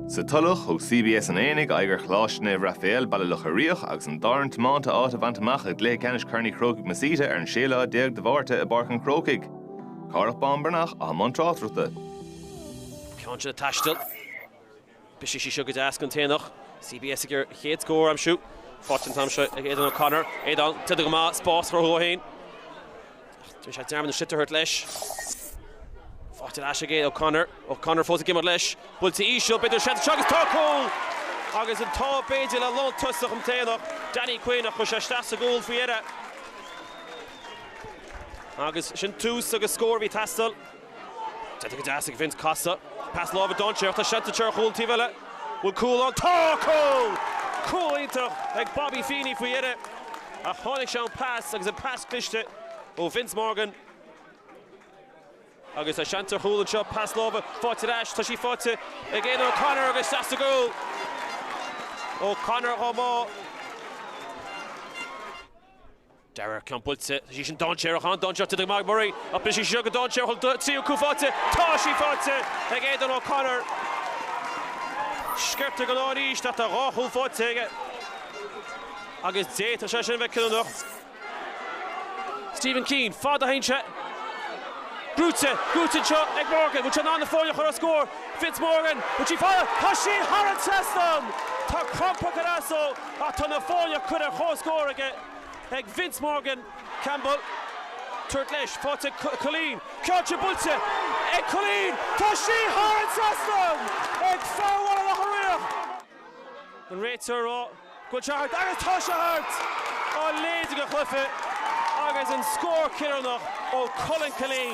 Sa Tulach, thug CBS an Aonaigh aghaidh ar Choláiste Naomh Raiféal, Baile Locha Riach agus an dá fhoireann tiomanta áit a bhaint amach i gCluiche Ceannais Chorn Uí Chrócaigh Masita ar an 16ú lá de Mhárta i bPáirc an Chrócaigh. Cárthach Bán Breathnach, i mbun tráchtaireachta. Ceann de na taistil. Brisfidh sí seo go deas don Aonach. CBS ag iarraidh a chéad scór a aimsiú. Faighte an t-am seo ag Aidan O'Connor. Aidan, tite go maith, spás a chruthú dó féin. Déanann sé dearmad an sliotar a thabhairt leis. Faighte ar ais aige, O'Connor. O'Connor fós ag imeacht leis. Buailte íseal, b'fhéidir seans anseo agus tá cúl! Agus an t-ádh b'fhéidir le lántosach an tAonach, Danny Quinn, ach chuir sé isteach sa gcúl faoi dheireadh. Agus sin tús agus scór a bhí ag teastáil. Tite go deas ag Vince, casta, pas láimhe dainséarach, tá seans acu ar chúl an taobh eile, bhfuil cúl ann? Tá! Cúl! Cúl iontach ag Bobby Feeney faoi dheireadh ach tháinig sé ón pas agus an pas cliste ó Vince Morgan agus tá seans ar chúl anseo, pas láimhe faighte ar ais, tá sí faighte ag Aidan O'Connor agus isteach sa gcúl! O'Connor chomh maith. Darragh ceann buailte, tá sí sin dainséarach, an-dainséarach, tite ag Murray ach brisfidh sí seo go dainséarach, bhfuil an tríú cúl faighte, tá sí faighte ag Aidan O'Connor! Sciorrtha go leor arís ach tá dhá chúl faighte aige agus d'fhéadfadh sé sin a bheith cinniúnach. Stephen Keane, fad inti seo, brúite, brúite anseo ag Morgan, bhfuil sé in ann na foirne a chur ar chomhscór? Vince Morgan, bhfuil sí fada? Tá sí thar an trasnán! Tá crampa ag cur as dó ach tá na foirne curtha ar chomhscór aige. ag Vince Morgan. Campbell, tabhairt leis, faighte ag Killeen, ceann ard buailte ag Killeen, tá sí thar an trasnán ag fear Bhaile Locha Riach. An réiteoir ag rá go bhfuil sé thart agus tá sé thart! A leithéid de chluiche agus an scór cinniúnach ó Cullen Killeen.